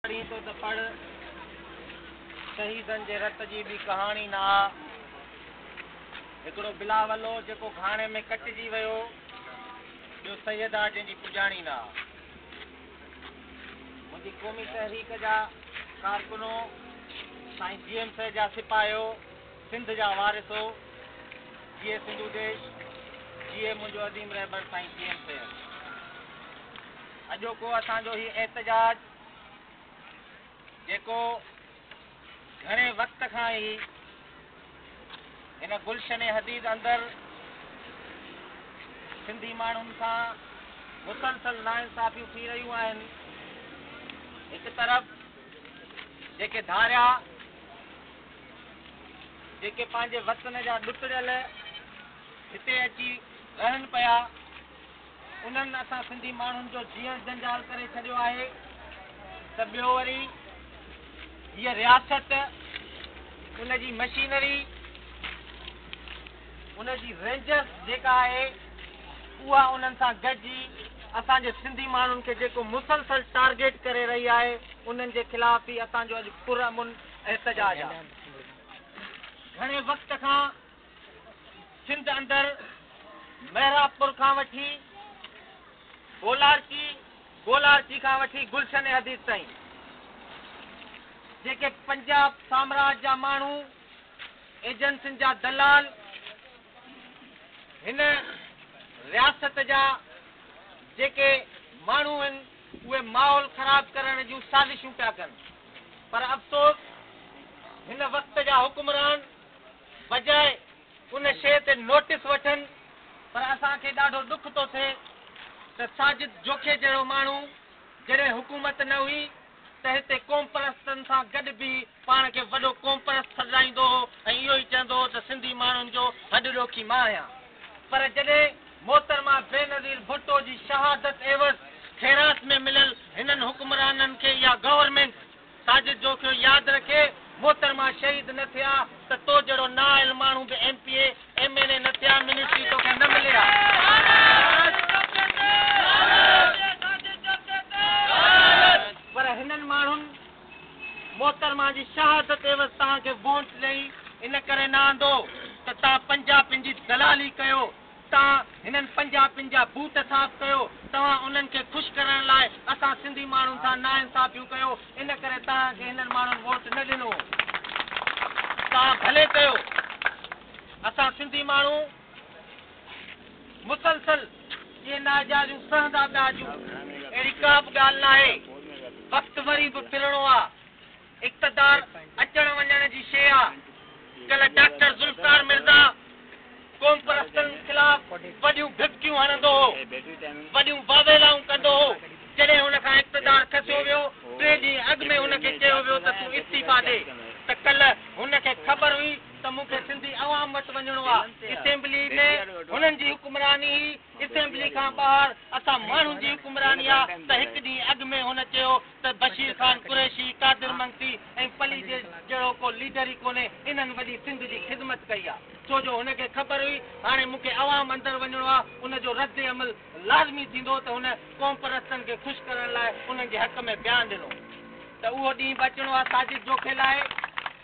پڙهين ٿو ته پڙهه، شهيدن جي رت جي ٻي ڪهاڻي نه آ. هڪڙو بلاول هو جيڪو گهاڻي ۾ ڪٽجي ويو، ٻيو سيد آ جنهن جي پڄاڻي نه آ. منهنجي قومي تحريڪ جا ڪارڪنو، سائين جي ايم سيد جا سپاهيو، سنڌ جا وارثو، جيئي سنڌو ديش، جيئي منهنجو عظيم رهبر سائين جي ايم سيد. اڄوڪو اسان جو هي احتجاج جيڪو گهڻي وقت کان ئي هن گلشن حديد اندر سنڌي ماڻهن سان مسلسل ناانصافيون ٿي رهيون آهن هڪ طرف جيڪي ڌاريا جيڪي پنهنجي وطن جا ڏتڙيل هتي اچي رهن پيا انهن اسان سنڌي ماڻهن جو جيئڻ جنجال ڪري ڇڏيو آهي ته ٻيو وري هيء رياست ان جي مشينري ان جي رينجرس جيڪا آهي اها انهن سان گڏجي اسان جي سنڌي ماڻهن کي جيڪو مسلسل ٽارگيٽ ڪري رهي آهي انهن جي خلاف به اسان جو اڄ پرامن احتجاج آهي. گهڻي وقت کان سنڌ اندر محراب پور کان وٺي گولارچي، گولارچي کان وٺي گلشن حديث تائين جيڪي پنجاب سامراج جا ماڻهو ايجنسين جا دلال هن رياست جا جيڪي ماڻهو آهن اهي ماحول خراب ڪرڻ جون سازشون پيا ڪن پر افسوس هن وقت جا حڪمران بجاء ان شيء تي نوٽس وٺن پر اسان کي ڏاڍو ڏک ٿو ٿئي ته ساجد جوکي جهڙو ماڻهو جڏهن حڪومت نه هئي ته هتي قومپرستن سان گڏ بيهي پاڻ کي وڏو قومپرست سڏرائيندو هو ۽ اهو ئي چوندو هو ته سنڌي ماڻهن جو هڏ ڏوکي مان آهيان پر جڏهن محترمه بينظير ڀٽو جي شهادت عيوض خيرات ۾ مليل هنن حڪمرانن کي يا گورنمينٽ ساجد جوکيو ياد رکي محترمه شهيد نه ٿئي ها ته تو جهڙو نااهل ماڻهو به M P A M N A نه ٿئي ها منسٽري توکي نه ملي ها پر هنن ماڻهن محترمه جي شهادت عيوض توهان کي وونٽ ڏئي ان ڪري نه آندو ته توهان پنجابين جي دلالي ڪيو تان هنن پنجابين جا بوٽ صاف ڪيو توهان انهن کي خوش ڪرڻ لاء اسان سنڌي ماڻهن سان ناانصافيون ڪيو ان ڪري توهان کي هنن ماڻهن ووٽ نه ڏنو توهان ڀلي ڪيو اسان سنڌي ماڻهو مسلسل اهي ناجائزيون سهندا پيا اچون اهڙي ڪا به ڳالهه ناهي وقت وري به ڦرڻو آ. اقتدار اچڻ وڃڻ جي شيء آ. ڪلهه ڊاڪٽر ذوالفقار مرزا قومپرستن خلاف وڏيون ڀڀڪيون هڻندو هو، وڏيون واويلائون ڪندو هو، جڏهن هن کان اقتدار کسيو ويو، ٽي ڏينهن اڳ ۾ هن کي چيو ويو ته تون استعيفيٰ ڏي، ته ڪلهه هن کي خبر هئي ته مون کي سنڌي عوام وٽ وڃڻو آ، اسيمبلي ۾ هنن جي حڪمراني هئي، اسيمبلي کان ٻاهر اسان ماڻهن جي حڪمراني آ، ته هڪ ڏينهن اڳ ۾ هن چيو. ته بشير خان قريشي، قادر منگتي ۽ پليجيز جهڙو ڪو ليڊر ئي ڪونهي انهن وڏي سنڌ جي خدمت ڪئي آ. ڇو جو هن کي خبر هئي هاڻي مون کي عوام اندر وڃڻو آ ان جو رد عمل لازمي ٿيندو ته هن قوم پرستن کي خوش ڪرڻ لاء انهن جي حق ۾ بيان ڏنو ته اهو ڏينهن به اچڻو آ ساجد جوکي لاء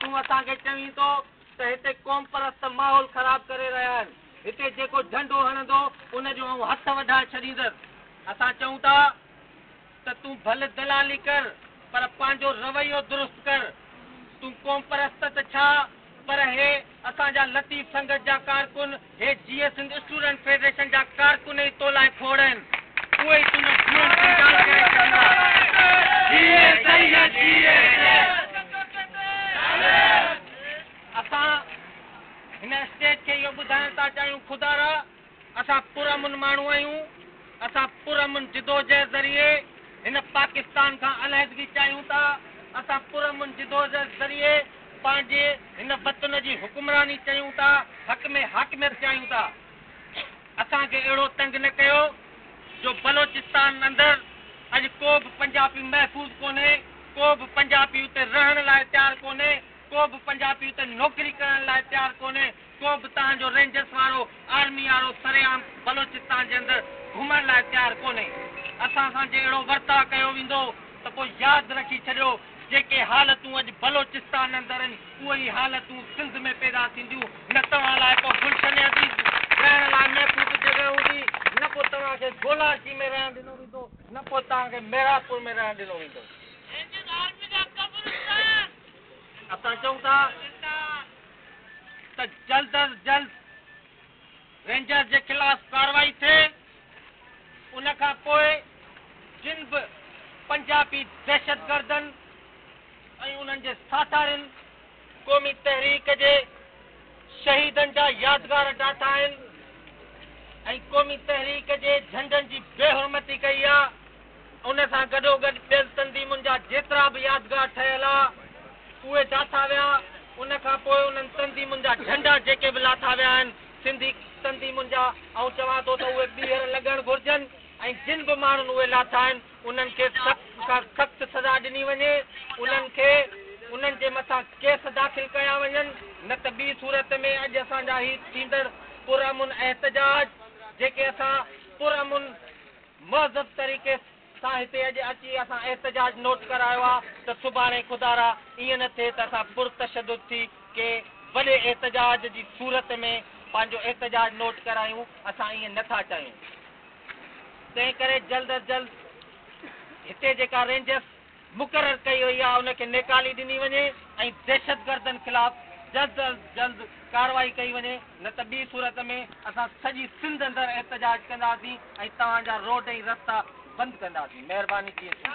تون اسان کي چوين ٿو ته هتي قوم پرست ماحول خراب ڪري رهيا آهن هتي جيڪو جهنڊو هڻندو ان جو آئون هٿ وڍائي ڇڏيندس اسان چئون ٿا ته تون ڀل دلالي ڪر پر پنهنجو رويو درست ڪر. تون قومپرست ته ڇا پر هي اسان جا لطيف سنگت جا ڪارڪن، هي جيئي سنڌ اسٽوڊنٽ فيڊريشن جا ڪارڪن ئي تو لاء کوڙ آهن. اهي ئي تنهنجو جيئڻ جنجال ڪري ڇڏيندا. جيئي سيد جيئي سيد. اسان هن اسٽيج کي اهو ٻڌائڻ ٿا چاهيون خدارا! اسان پرامن ماڻهو آهيون، اسان پرامن جدوجهد ذريعي هن پاڪستان کان علحدگي چاهيون ٿا، اسان پرامن جدوجهد ذريعي پنهنجي هن وطن جي حڪمراني چيون ٿا، حق ۾ حاڪميت چاهيون ٿا. اسان کي اهڙو تنگ نه ڪيو جو بلوچستان اندر اڄ ڪو به پنجاپي محفوظ ڪونهي، ڪو به پنجاپي اتي رهڻ لاء تيار ڪونهي، ڪو به پنجاپي اتي نوڪري ڪرڻ لاء تيار ڪونهي، ڪو به توهان جو رينجرس وارو، آرمي وارو سرعام بلوچستان جي اندر گهمڻ لاء تيار ڪونهي. اسان سان جي اهڙو ورتاء ڪيو ويندو ته پوء ياد رکي ڇڏيو جيڪي حالتون اڄ بلوچستان اندر آهن اهي ئي حالتون سنڌ ۾ پيدا ٿينديون نه توهان لاء ڪو گلشن عزيز رهڻ لاء محفوظ جڳهه هوندي نه پوء توهان کي گولاچي ۾ رهڻ ڏنو ويندو نه پوء توهان کي محرابپور ۾ رهڻ ڏنو ويندو. رينجرس آرمي جا قبرستان. اسان چئون ٿا. ته جلد از جلد رينجر جي خلاف ڪارروائي ٿئي ان کان پوء جن به پنجابي دهشتگردن ۽ انهن جي ساٿارين قومي تحريڪ جي شهيدن جا يادگار ڊاٿا آهن ۽ قومي تحريڪ جي جهنڊن جي بي حرمتي ڪئي آ ان سان گڏوگڏ ٻين تنظيمن جا جيترا به يادگار ٺهيل ها، اهي ڊاٿا ويا. ان کان پوء انهن تنظيمن جا جهنڊا جيڪي به لاٿا ويا آهن، سنڌي تنظيمن جا، آئون چوان ٿو ته اهي ٻيهر لڳڻ گهرجن ۽ جن به ماڻهن اهي لاٿا آهن، انهن کي سخت کان سخت سزا ڏني وڃي. انهن کي انهن جي مٿان ڪيس داخل ڪيا وڃن، نه ته ٻي صورت ۾ اڄ اسان جا هي ٿيندڙ پرامن احتجاج، جيڪي اسان پرامن. مهذب طريقي سان هتي اڄ اچي اسان احتجاج نوٽ ڪرايو آ ته سڀاڻي خدارا ائين نه ٿئي ته اسان پر تشدد ٿي ڪي وڏي احتجاج جي صورت ۾ پنهنجو احتجاج نوٽ ڪرايون اسان ائين نه ٿا چاهيون تنهن ڪري جلد از جلد هتي جيڪا رينجرس مقرر ڪئي وئي آهي ان کي نيڪالي ڏني وڃي ۽ دهشتگردن خلاف جلد از جلد ڪارروائي ڪئي وڃي نه ته ٻي صورت ۾ اسان سڄي سنڌ اندر احتجاج ڪنداسين ۽ توهان جا روڊ ۽ رستا بند ڪنداسين مهرباني جيئي سنڌ.